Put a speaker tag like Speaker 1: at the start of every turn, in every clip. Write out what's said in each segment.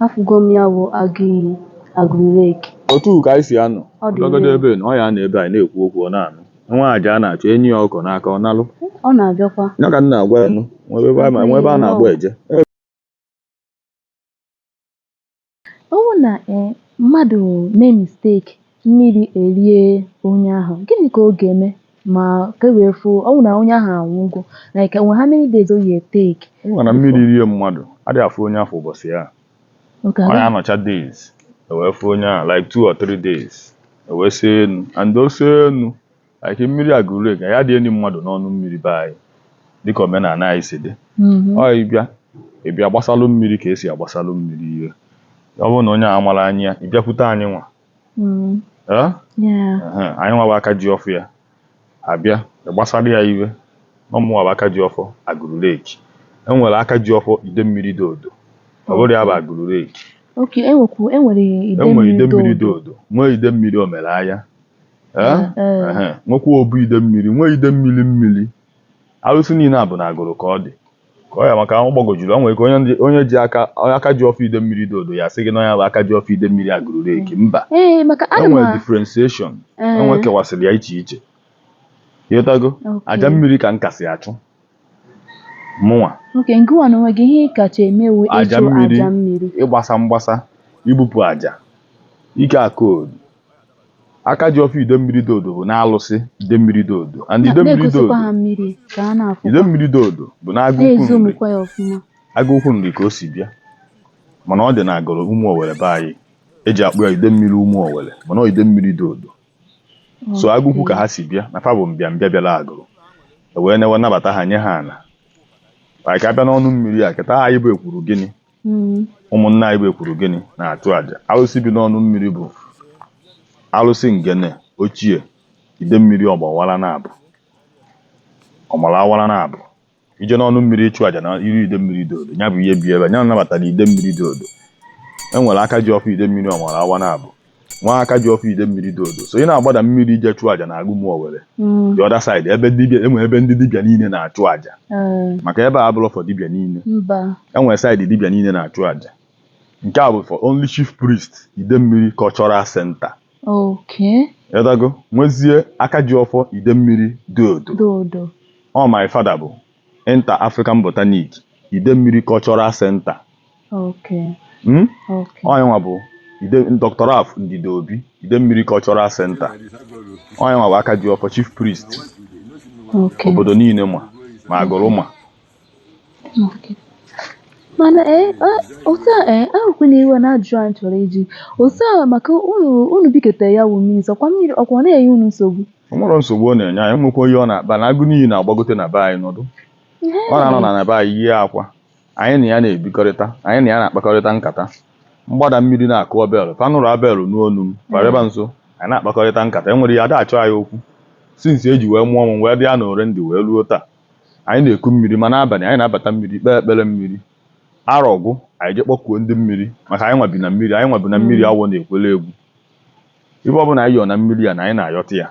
Speaker 1: Afụgo m ya bụ agụ iyi, Agụlụ Lake. Otu ka anyị si anọ.
Speaker 2: Ọ dị Ọdọgọdọ ire. ebe ị nọ, ọ
Speaker 1: ya anọ ebe anyị
Speaker 2: na-ekwu okwu, ọ na-anụ. Nwa aja a na-achụ enye ya ọkụkọ n'aka, ọ nalụ. Ọ
Speaker 1: na-abịakwa. Ya ka m na-agwa ya
Speaker 2: nụ, nwebe ebe a ma- nwebe a na-agba
Speaker 1: eje. Ọ bụrụ na eh, mmadụ mee mistake mmiri erie onye ahụ gịnị ka ọ ga-eme ma ka e wee fụ ọ bụ na onye ahụ anwụgo like how many days ọ ya-etake ị ma na mmiri rie
Speaker 2: mmadụ adịghị afụ onye afụ ụbọchị ya okay ọ ya
Speaker 1: anọcha days
Speaker 2: ewee fụ onye ahụ like two or three days ewee see enu and o see enu like mmiri Agụlụ Lake ya rie mmadụ n'ọnụ mmiri be anyị dịka omenala anyị si dị ọ ịbịa ịbịa gbasalụ mmiri ka esi agbasalụ mmiri ihe ọ bụrụ na onye ahụ mara anyị ya abịakwute anyị nwa mm. anyị nwa bụ aka ji ọfọ ya abịa gbasara ya ihe na ọ mụnwa bụ aka ji ọfọ Agụlụ Lake e nwere aka ji ọfọ ide mmiri Diodo ọ bụrụ ya bụ Agụlụ
Speaker 1: Lake e nwere ide mmiri Diodo nwee ide mmiri
Speaker 2: Omelaya nwekwa obu ide mmiri nwee ide mmiri mmiri arụsị niile a bụ na Agụlụ ka ọ dị ka ọ ya maka ahụ gbagojuru ọ nwere ike onye ndị- onye ji aka onye aka ji ọfọ ide mmiri Diodo ya sị gị na ọ nya bụ aka ji ọfọ ide mmiri Agụlụ Lake mba ee maka ana m enwere a- differentiation Ee. enwe kewasịrị ya iche iche ịghọtago Okay. aja mmiri ka m kasị achụ mụnwa okay nke
Speaker 1: nwa na onwe gị ihe ị kacha eme wụ aja ịchụ mmiri aja mmiri ịgbasa mgbasa
Speaker 2: ibupụ aja ike akoodu aka ji ọfọ ide mmiri Diodo bụ n'alụsị ide mmiri Diodo and ide mmiri Diodo na-egosikwa ha mmiri ka a na-afụ ide mmiri Diodo bụ n'Agụukwu Nri na-ezomukwa ya ọfụma Agụukwu Nri ka o si bịa mana ọ dị na Agụlụ Ụmụowelle be anyị eji akpọ ya ide mmiri Ụmụowelle mana ọ ide mmiri Diodo so Agụukwu ka ha si bịa na fa bụ mbịa mbịa bịara Agụlụ e wee newe nabata ha nye ha ana anyị ka abịa n'ọnụ mmiri a kịta anyị bụ ekwuru gịnị hmm. ụmụnna anyị bụ ekwuru gịnị na-achụ aja arụsị bi n'ọnụ mmiri bụ arụsị ngene ochie ide mmiri ọgbawara na abụ ọmara awara na abụ ije n'ọnụ mmiri ịchụ aja n'iru ide mmiri Diodo ya bụ ihe bi ebe ya nabatara ide mmiri Diodo e nwere aka ji ọfọ ide mmiri ọmara awa na abụ nwee aka ji ọfọ ide mmiri Diodo so ị na-agbada mmiri ije chụọ aja na agụ Ụmụowelle Mm. the other side ebe dibịa enwe ebe ndị dibịa niile na-achụ aja Eh, maka ebe a abụrọ for dibịa niile mba enwere side dibịa niile na-achụ aja nke a bụ for only chief priest ide mmiri cultural center okay ịghọtago nwezie aka ji ọfọ ide mmiri Diodo Diodo ọ my father bụ Inter African Botanic Idemmiri Cultural Center Okay. Hmm? Okay. Onye nwa bụ Ide Dr. Ralph Ndidi Obi Idemmiri Cultural Center onye nwa bụ aka ji ọfọ Chief Priest Okay. obodo niile ma ma agụrụ ma
Speaker 1: Okay. mana ee a- otu a ee ewekwana iwe na ajụjụ anyị chọrọ ịjụ otu a maka unu unu biketa ya wụ mmiri nso ọkwa mmiri ọkwa ọ na-enye unu nsogbu o nwere nsogbu ọ
Speaker 2: na-enye anyị nwekwa ihe ọ na-akpa na agụ n'iyi na-agbagote na be anyị nọdụ ọ na-anọ na na be anyị yie akwa anyị na ya na-ebikọrịta anyị na ya na-akpakọrịta nkata mgbada mmiri na-akụ bell fa nụrụ abel n'onu m kwarịba nso anyị na-akpakọrịta nkata e nwere ya ada achọ anyị okwu since eji wee mụọ m wee dị ya na ore ndị wee ruo taa anyị na-eku mmiri ma n'abalị anyị na-abata mmiri kpee ekpere mmiri arọ gwụ anyị je kpọkuo ndị mmiri maka anyịnwa bi na mmiri anyịnwa bi na mmiri awọ na-ekwere egwu ibe ọbụla anyị yọọ na mmiri a na anyị na-ayọta ya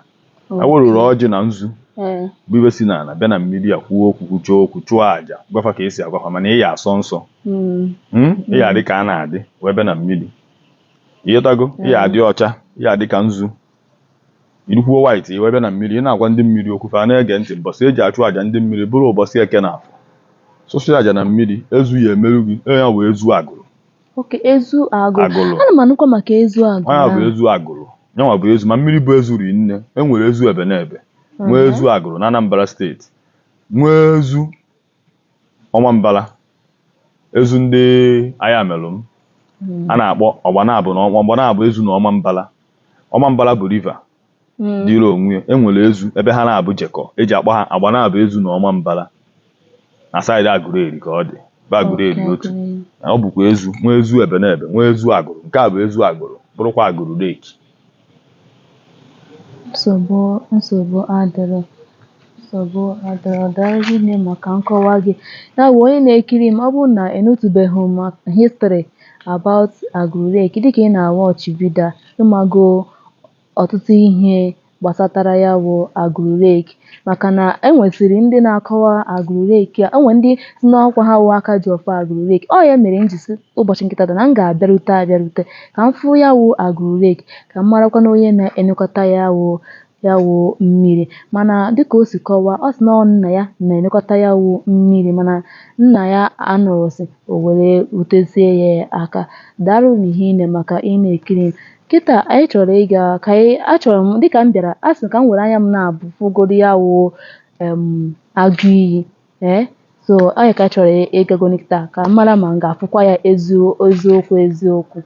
Speaker 2: ewerụrụ ọjị na nzu eh. bụ ibe si n'ala bịa na mmiri a kwuo okwu kwuchie okwu chụọ àjà gwafa ka esi agwafa mana ị ya asọ nsọ hmm. Hmm? ị ya adị ka a na-adị wee bịa na mmiri ịghọtago ị ya adị ọcha ị ya adị ka nzu irukwuo white i wee bịa na mmiri ị na-agwa ndị mmiri okwu fa na-ege ntị mbọsị eji achụ àjà ndị mmiri bụrụ ụbọchị eke na afọ sụsụ àjà na mmiri ezu ya emeru gị ya wụ ezu Agụrụ okay
Speaker 1: ezu agụrụ Agụrụ. ana m anụkwa maka ezu agụrụ ọ ya bụ ezu
Speaker 2: agụrụ nyanwa bụ ezu ma mmiri bụ ezu rinne e nwere ezu ebe na ebe nwee Mhm. ezu agụrụ na Anambra State nwee ezu Ọmambala ezu ndị Ayamelum Mhm. a na-akpọ Agbanabọ na Agbanabọ ezu na Ọmambala Ọmambala bụ river Mm. dịrị onwe ya e nwere ezu ebe ha naabọ jekọ eji akpọ ha Agbanabọ ezu na Ọmambala na side agụreri ka ọ dị bụ agụreri Okay, otu okay. na ọ bụkwa ezu nwee ezu ebe na ebe nwee ezu agụrụ nke a bụ ezu agụrụ bụrụkwa Agụrụ Lake
Speaker 1: nsogbu nsogbu adịrọ nsogbu adịrọ daalụ nne maka nkọwa gị ya bụ onye na-ekiri m ọ bụrụ na ịnụtụbeghị ma history about Aguru Lake dịka ị na-awatch vidio a ị mago ọtụtụ ihe gbasatara ya bụ Agụrụ Lake maka na e nwesịrị ndị na-akọwa Agụrụ Lake a o nwere ndị sị na ọkwa ha wụ aka ji ọfọ Agụrụ Lake ọ ya mere m ji sị ụbọchị nke tata na m ga-abịarute abịarute ka m fụ ya wụ Agụrụ Lake ka m marakwana onye na-elekọta ya wụ ya wụ mmiri mana dịka o si kọwaa ọ sị na ọ nna ya na-elekọta ya wụ mmiri mana nna ya anọrọsị o were rutezie ya aka daalụ n'ihi na maka ị na-ekiri m kịta anyị chọrọ ịga ka anyị achọrọ m dịka m bịara a sị ka m were anya m naabọ fụgodo ya wụ em agụ iyi Ee, so anyị ka chọrọ ịgagonụ kịta ka m mara ma m ga-afụkwa ya ezio- eziokwu eziokwu.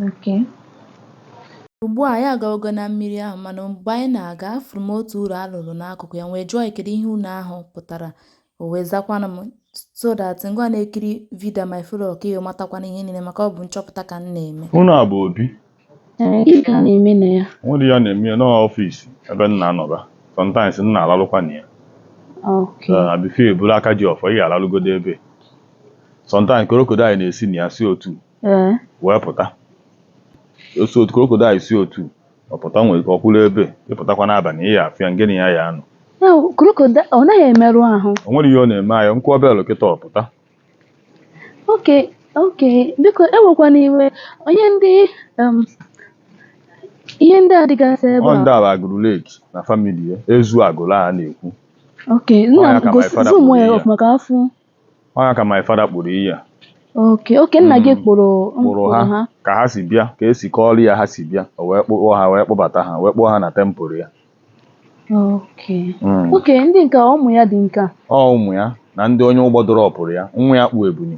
Speaker 1: Okay. Ugbu a anyị agawogo na mmiri ahụ mana mgbe anyị na-aga afụrụ m otu ụlọ a rụrụ n'akụkụ ya m wee jụọ ya kedu ihe ụnọ ahụ pụtara o wee zakwanụ m so that ngịwa na-ekiri vidio a ma ị fụrụ ka ị wee matakwanụ ihe niile maka ọ bụ nchọpụta ka m na-eme Ụnọ a bụ Obi? Ee, gịnị ka a na-eme na ya? O nwerọ ihe a na-eme
Speaker 2: ya ọ office ebe m na-anọba. Sometimes m na-alalụkwa na ya. Okay. Ee, before ị bụrụ aka ji ọfọ, ị ya-alalụgodo ebe a. Sometimes crocodile na-esi na ya si otu a Ee. wee pụta. O si otu a crocodile si otu a pụta nwere ike ọ kwụrụ ebe a ị pụtakwa n'abalị ị ya-afụ ya ngị na ya ya-anọ. Ya bụ, crocodile
Speaker 1: ọ naghị emerụ ahụ. O nwerọ ihe ọ na-eme anyị
Speaker 2: m kụọ bell kịta ọ pụta.
Speaker 1: okay okay biko ewekwana iwe onye ndị um, ihe ndị a dịgasị ebe a ndị a bụ Agụlụ Lake
Speaker 2: na family ya Ezu Agụlụ a na-ekwu okay Ọ nna ya
Speaker 1: ka my gosi father zoom kpụrụ ya ihe. ọfụma ka a fụ ọ ya ka
Speaker 2: my father kpụrụ ihe a okay ọ
Speaker 1: nna gị Mm. kpụrụ m kpụrụ kpụrụ ha ha ka ha si
Speaker 2: bịa ka e si kọọrọ ya ha si bịa o wee kpụọ ha wee kpụbata ha wee kpụọ ha na temple ya
Speaker 1: Okay. Mm. Okay, ndị nke a, ụmụ ya ndị nke a. ọ ụmụ ya
Speaker 2: na ndị onye ụgbọ dọrọpụrụ ya nwa ya kpụ ebune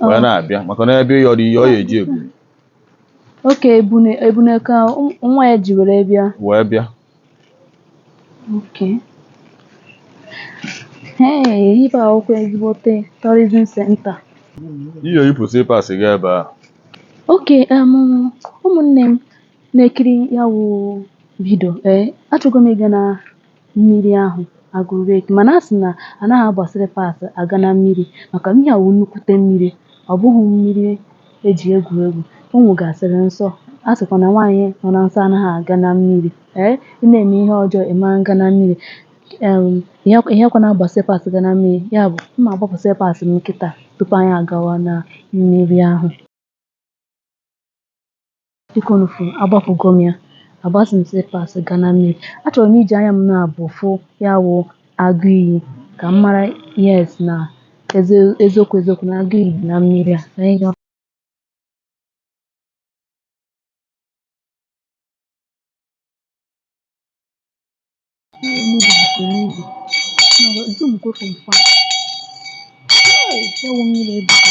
Speaker 2: wee na-abịa maka na ị bịa ịyọrọ ihe ọ ya-eji ebune Okay ebune
Speaker 1: ebune ka ụm- nwa ya ji were bịa. wee bịa Okay. Hey, ebe a bụkwa ezigbote tourism center. ị
Speaker 2: ya-eyipụ slippers gị ebe a Okay,
Speaker 1: um, ụmụnne m, na-ekiri ya wụ vidio ee achọgo m ịga na mmiri ahụ Agụlụ Lake mana a sị na anaghị agba slippers aga na mmiri maka ihe a wụ nnukwute mmiri ọ bụghị mmiri e ji egwu egwu o nwegasịrị nsọ a sịkwa na nwaanyị nọ na nsọ anaghị aga na mmiri ee ị na-eme ihe ọjọọ ị ma aga na mmiri em, ihe ihe kwa na-agba slippers ga na mmiri ya bụ m ma agbapụ slippers m kịta tupu anyị agawa na mmiri ahụ dịka unu fụ agbapụgo m ya agbazị m slippers ga na mmiri achọrọ m iji anya m naabọ fụ ya wụ agụ iyi ka m mara yes na ezi- eziokwu eziokwu na agụ iyi dị na mmiri a Ka anyị
Speaker 2: gaa. Hey, ewu mmiri ebuka.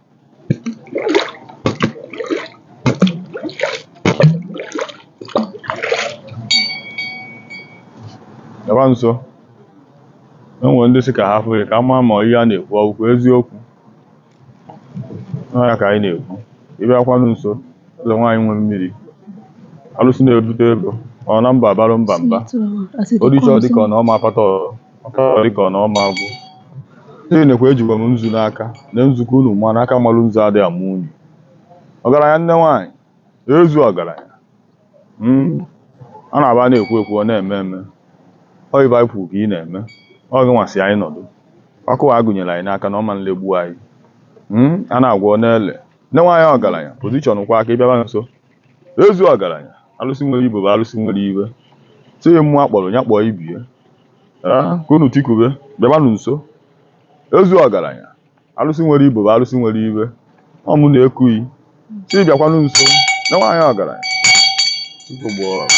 Speaker 2: Bịakwa nso. E nwere ndị sị ka ha fụ ya ka a mara ma ihe a na-ekwu ọ bụkwa eziokwu. Ọ ya ka anyị na-ekwu. Ị bịakwanụ nso, Ezu nwaanyị nwe mmiri. Alụsị na-ebute ego. Ọ na mba abalụ mba mba. O richa ọ dịka ọ na ọ ma akpata ọrụ. Ọ dịka ọ na ọ ma agwụ. N'ihi nekwa ejikwa m nzu n'aka, na nzukọ unu ma na aka malu nzu adịghị ama unyi. Ọgaranya nne nwaanyị, Ezu ọgaranya. Mm. Ọ na-abụ a na-ekwu ekwu, ọ na-eme eme. Ọ ife anyị kwuru ka ị na-eme. Ọ gị nwa si anyị nọdụ. Ọkụ a gụnyere anyị n'aka na ọ ma nlegbu anyị. Mm. A na-agwọ ọ na-ele. Nne nwaanyị ọgaranya, position kwa aka ị bịaba nso. Ezu ọgaranya, alụsị nwere ibobo, alụsị nwere ibe. Sị mmụọ a kpọrọ ya kpọọ ibie. Ee, ka unu tikube, bịabanụ nso. Ezu ọgaranya, alụsị nwere ibobo, alụsị nwere ibe. Ọ mụ na-eku gị. Sị bịakwanụ nso, nne nwaanyị ọgaranya. Tupu gboo ọgụ.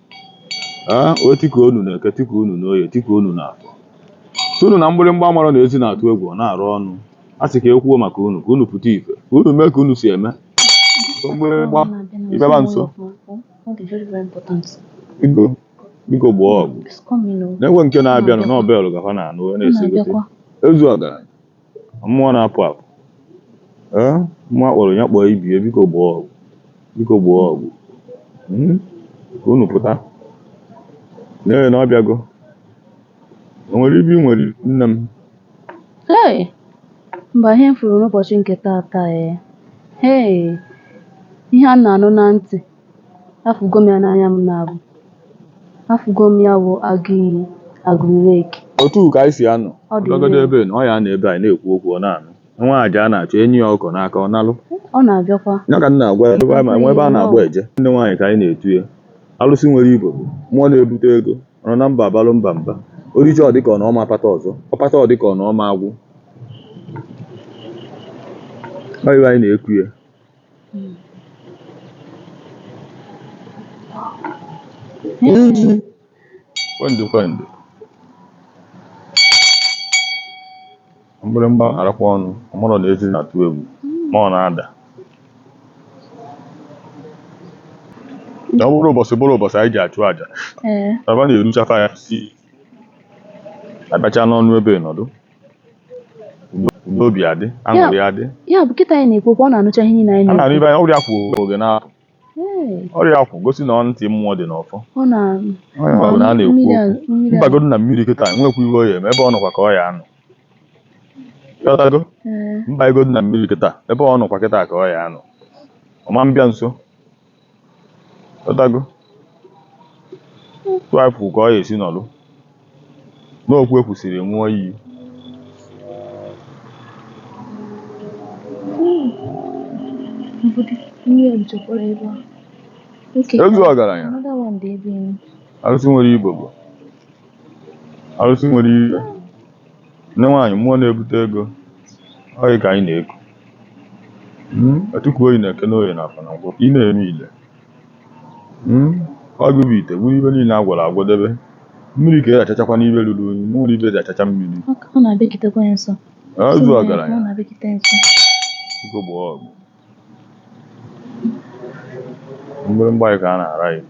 Speaker 2: ee o tikuo unu na eke tikuo unu na oye tikuo unu na afọ si unu na mgbịrịmgba mara na ezi na-atụ egwu ọ na-arụ ọnụ a sị ka e kwuo maka unu ka unu pụta ife ka unu mee ka unu si eme mgbịrịmgba ị bịaba nso biko biko gboo ọgụ na-enwe nke na-abịanụ na ọbelụ gafa na anụ wee na-esegote ezu ọgaranya mmụọ na-apụ apụ ee mmụọ a kpọrọ ya kpọọ ibie biko gboo ọgụ biko gboo ọgụ hmm? ka unu pụta lee na ọ bịago o nwere ibe nwere nne m
Speaker 1: hey mba ihe m fụrụ n'ụbọchị nke taata ee eh. hey ihe a na-anụ na ntị Afụgo m ya n'anya m na-abụ. Afụgo m ya bụ agụ iyi, Agụlụ lake. Otu ka anyị
Speaker 2: si anọ. Ọ dị Ọbịagodo nne. ebe ị nọ, ọ ya anọ ebe anyị na-ekwu okwu ọ na-anụ. Nwa aja a na-achụ e nye ya ọkọ n'aka ọ nalụ. Ọ na-abịakwa.
Speaker 1: Ya ka m na-agwa ya ebe
Speaker 2: anyị ma nwee ebe a na-agba eje. Nne nwaanyị ka anyị na-etu ya. Alụsị nwere ibobo, mmụọ na-ebute ego, ọ nọ na mba abalụ mba mba. O richa ọ dị ka ọ na ọ ma akpata ọzọ, ọ kpata ọ dị ka ọ na ọ ma agwụ. Ọ ife anyị na-eku ya. Iji kwendụ kwendụ mgbịrịmgba arakwa ọnụ ọmụrụ na ezi na-atụ egwu ma ọ na-ada na ọ bụrụ ụbọchị bụrụ ụbọchị anyị ji achụ aja ee aba na-eruchafa ya si abacha n'ọnụ ebe nọdụ n'obi adị aṅụrị adị ya bụ kịta anyị
Speaker 1: na-ekwu ọ na-anụcha ihe niile anyị na-anụ ibe anyị ọrịa kwụ
Speaker 2: oge na-apụ ọrịa kwụ gosi na ntị mmụọ dị n'ọfọ ọ na na-ekwu m bagodo na mmiri kịta nwekwa ive ọ ya eme ebe ọ nọkwa ka ọ ya anọ m bagodo na mmiri kịta ebe ọ nọkwa kịta ka ọ ya anọ ọma m bịa nso ọdago tụakwụ ka ọ ya esi nọlụ n'okwu ekwusịrị ṅụọ iyi Ezu ọgaranya arụsị nwere ibobo arụsị nwere ire nne nwaanyị mmụọ na-ebute ego ọ yị ka anyị na-eku Mm, etikwuo yị n'Eke n'Oye n'Afọ na Nkwọ ị na-eme ile Mm, ọ gị bụ ite buru ive niile a gwọrọ agwọ debe mmiri ka e ji achachakwanụ ive ruru unyi nwere ive e ji achacha mmiri Ọ ka- ọ na-abịagitekwa ya nso. Ezu Sị na ya, ọgaranya Ọ na-abịagite nso. Biko gbaa ọgụ mgbịrịmgba anyị ka a na-ara ya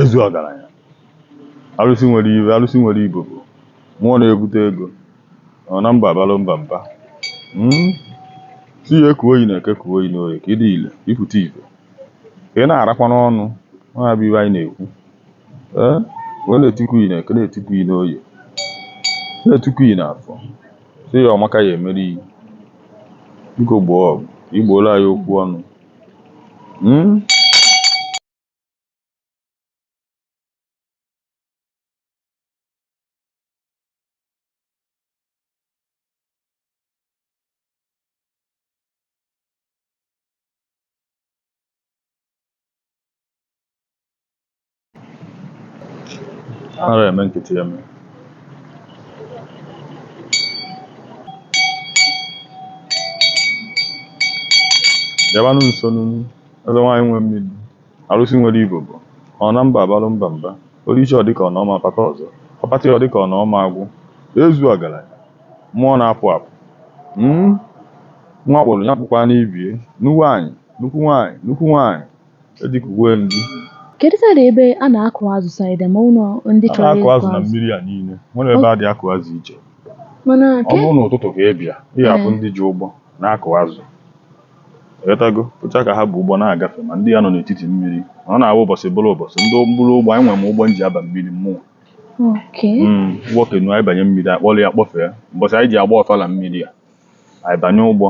Speaker 2: Ezu ọgaranya arụsị nwere ibobo mmụọ na-ebute ego ọ na mba abalụ mba mba Mm. sị ya ekuo yị n'Eke kuo yị n'Oye ka ị dị ile ị pụta ive ka ị na-arakwa n'ọnụ ọ ya bụ ive anyị na-ekwu ee wee na-etikwu yị n'Eke na-etikwu yị n'Oye na-etikwu yị n'Afọ Sị ya ọ maka ya emere iyi. Biko gboo ọgụ, i gbooro anyị okwu ọnụ. Hmm? ara eme nkịtị eme bịabanụ nso n'unu eze nwaanyị nwe mmiri arụsị nwere ibobo ọ na mba abalụ mba mba o richie ọ dịka ọ na ọ ma pata ọzọ ọ pata ọ dịka ọ na ọ ma agwụ Ezu ọgaranya mmụọ na-apụ apụ Mm, nwa kpụrụ ya kpụkwa n'ibie nnukwu nwaanyị nnukwu nwaanyị nnukwu nwaanyị Dịka uwe m gị. Kedu side
Speaker 1: ebe a na-akụ azụ side ma ụlọ ndị A chọrọ na-akụ ịkụ azụ na azụ? mmiri
Speaker 2: a niile. Nwere ebe a dị akụ azụ iche. Mana Ọ ke bụrụ n'ụtụtụ ka ị bịa, ị ga-afụ Ee. ndị ji ụgbọ na-akụ azụ. Ghọtago? Fụcha ka ha bu ụgbọ na-agafe ma ndị ya nọ n'etiti mmiri. Ọ na-awụ ụbọchị bụrụ ụbọchị. Ndị mkpụrụ ụgbọ, anyị nwere m ụgbọ m ji aba mmiri mmụọ. oke. Mm, ụgbọ canoe anyị banye mmiri, akpọrọ ya kpọfee. Ụbọchị anyị ji agba ọfala mmiri a. anyị banye ụgbọ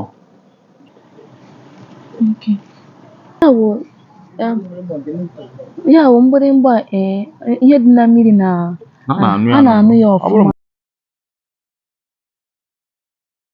Speaker 1: Ya wụ em, ya
Speaker 2: wụ
Speaker 1: mgbịrịmgba a, ee ihe dị na mmiri na a
Speaker 2: na-anụ
Speaker 1: ya a na-anụ ya ọ bụrụ ọfụma